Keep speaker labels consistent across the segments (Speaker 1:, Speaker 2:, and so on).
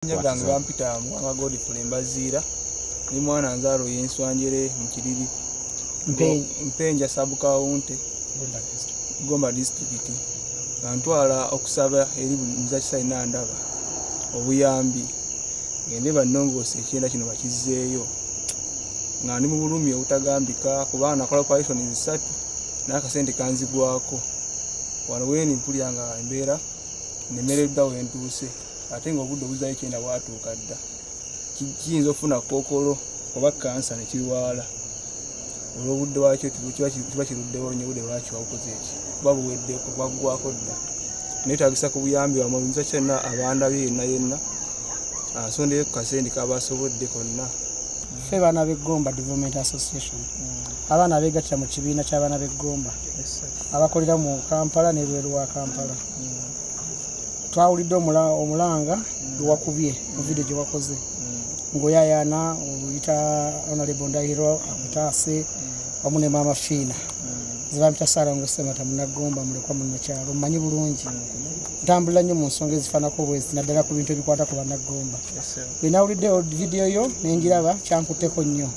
Speaker 1: gange bampita muwanga godful embaziira ne mwana nzaalo yenswanjere mu kiriri mpenja sabukawunte gomba disitulikiti nga ntwala okusaba eri buli muzakisa ina ndaba obuyambi ngende bannongoosa ekyenda kino bakizzeeyo nga ndi mu bulumi obutagambika kubanga nakola parisoni zisatu n'akasente kanzigwako wano wendi mpulira nga embeera nemereddwa wentuuse ate nga obudde obuzayo kyenda bwatuuka dda kiyinza okufuna kookolo oba kansa nekirwala olwobudde wakyo kiba kiruddewo nyo obudde lwakyo wabukoze eki kuba buweddeko bwaggwako dda netagisa ku buyambi wamwe nza kyonna abandabye yenna yenna asondeyo ku kasendi kaba asobodde konna ffe baana
Speaker 2: b'eggomba development association mm. abaana abeegattira mu kibiina ky'abaana b'eggomba abakolera mu kampala n'ebweru wa kampala twawulidde omulanga ewakubye mu vidiyo gye wakoze ngaoyayaana oyita onalebo ndahiro akutaase wamu ne maama fiina zebampita saara ngosemata munagomba mulekwa munakyalo mmanyi bulungi ntambulira nnyo mu nsonga ezifaanako bwezi naddala ku bintu ebikwata ku banagomba bwenawulidde vidiyo yo nengiraba kyankutteko nnyo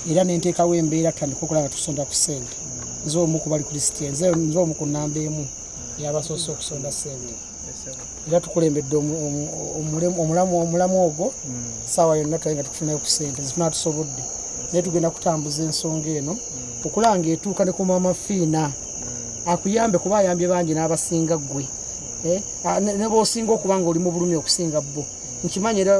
Speaker 2: era nenteekawo embeera tutandika okulaba tusonda ku sente nze omu kubali ku lisiti nze omu ku namba emu yabasoose okusonda sente era tukulembedde omulamu ogwo hmm. saawa yonna twaye nga tukufunayo ku sente zituna tusobodde naye tugenda kutambuza ensonga eno hmm. okulanga etuuka ne ku maama fiina hmm. akuyambe kuba ayambye bangi n'abasinga ggwe eh, nebwosinga okuba nga oli mu bulumi okusinga bbo nkimanyi era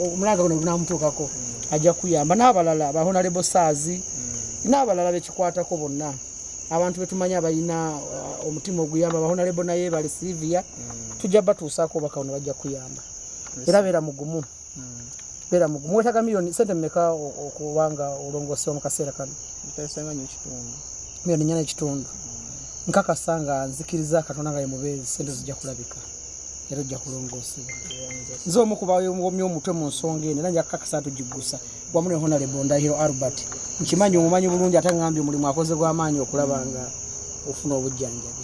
Speaker 2: omulanga guno gunamutuukako ajja kuyamba n'abalala bahonalebo saazi n'abalala bekikwatako bonna abantu betumanyi abalina uh, omutima oguyamba bahonalebo naye bali silivia mm. tujja batuusaako obaka ono bajja kuyamba era beera mugumu mm. beera mugumu wetaga miliyoni sente mumeka okubanga olongosewa mu kaseera kano miliyoni nyana ekitundu mm. nkakasa nga nzikiriza katonda nga yemubeezi sente zijja kulabika era ojja kulongoosebwa nze omu kubaomumya omutwe mu nsonga eno era njakukakasa tugiggusa wamu ne honalebo ndahiro albert nkimanyi omumanyi bulungi ate ngambi omulimu akoze gwamaanyi okulaba nga ofuna obujjanjabi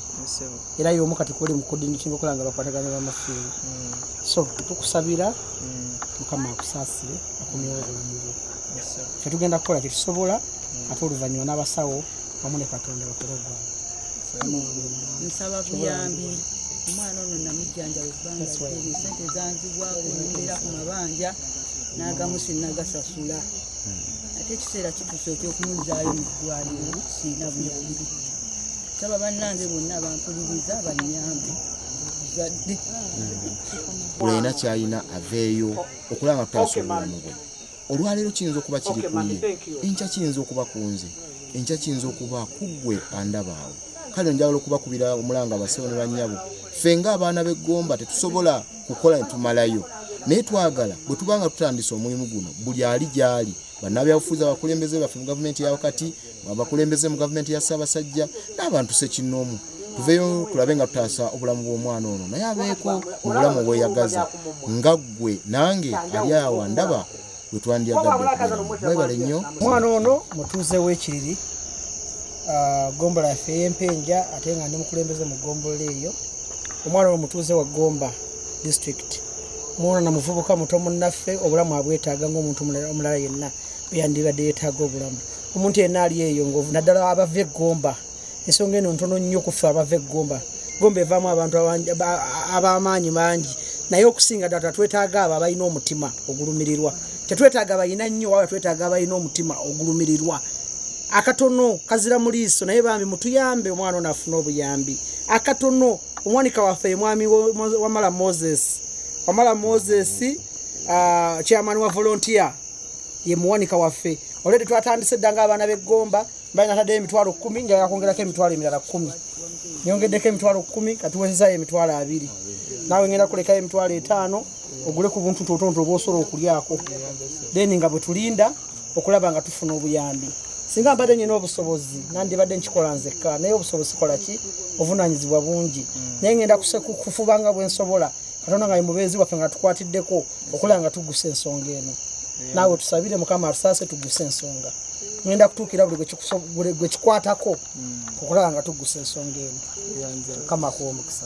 Speaker 2: era yomu kati kuli mukudinitinga okola nga bakwataganya bamafiini mm. so tukusabira mm. mukama akusaasire akomyewo obulamubu fe tugenda kukola kyetusobola mm. ate oluvannyuma n'abasawo wamu ne katonda bakole ogwange nsaba buyambi
Speaker 3: omwana ono namujjanjabi sente zanzibwako nembeera ku mabanja n'agamu sinagasasula ate ekiseera kitusa ekyokumuzaayo mu ddwaliro siina buyambi saba bannange bonna bampuliriza banyambe zadde
Speaker 4: buli alina kyalina aveeyo okulaba nga tutasobola mubwe olwaleero kiyinza okuba kiri kuye enkya kiyinza okuba ku nze enkya kiyinza okuba kuggwe andabaawo kale njagala okubakubira omulanga basebo ne bannyabo ffe nga abaana b'eggomba tetusobola kukola ne tumalayo naye twagala bwe tuba nga tutandise omulimu guno buli ali gy'ali bannabyabufuzi abakulembeze baffe mu gavumenti ya wakati abakulembeze mu gavumenti ya ssaabasajja n'abantu sekinnoomu tuveyo tulabe nga tutaasa obulamu bw'omwana ono naye abeeko mu bulamu obweyagaza nga ggwe nange ali awa ndaba we twandyagaddeebale nnyo omwana ono
Speaker 2: mutuuze w'ekiriri ah, gombola yaffe ey'empenja ate nga ndi mukulembeze mu gombola eyo omwana ono mutuuze wa gomba district mwono na muvubuka muto munnaffe obulamu abwetaaga ngaomuntu omulala yenna beyandibadde yetaaga obulamu omuntu yenna ali eyo ngovu naddala abava eggomba ensonga eno ntono nnyo kuffe abava eggomba gomba evaamu abantu ab'amaanyi mangi naye okusinga ddala twetaaga abo abalina omutima ogulumirirwa tetwetaaga balina nnyo waba twetaaga abalina omutima ogulumirirwa akatono kazira mu liiso naye bambi mutuyambe omwana ono afuna obuyambi akatono omwanika waffe ye mwami wamala moses wamala moses uh, chairman wa volontier ye muwanika waffe olwedde twatandise dda ngaabaana b'eggomba bali nataddeyo emitwalo kkumi nga yakwongerako emitwalo emirala kkumi nyongeddeko emitwalo kkumi katuwezezayo emitwalo abiri naawe ngenda kulekayo emitwalo etaano ogule ku buntu totonto oba osobola okulyako then nga bwe tulinda okulaba nga tufuna obuyambi singa mbadde nyina obusobozi nandibadde nkikola nzekka naye obusobozi kola ki obuvunaanyizibwa bungi naye ngenda kufuba nga bwe nsobola katonda nga yemubeezi waffe nga tukwatiddeko okulaba nga tugusa ensonga eno naawe tusabire mukama atusaase tuguse ensonga ngenda kutuukira buli gwekikwatako mm. okulaba nga tugusa ensonga eno mukama akuwa omukisa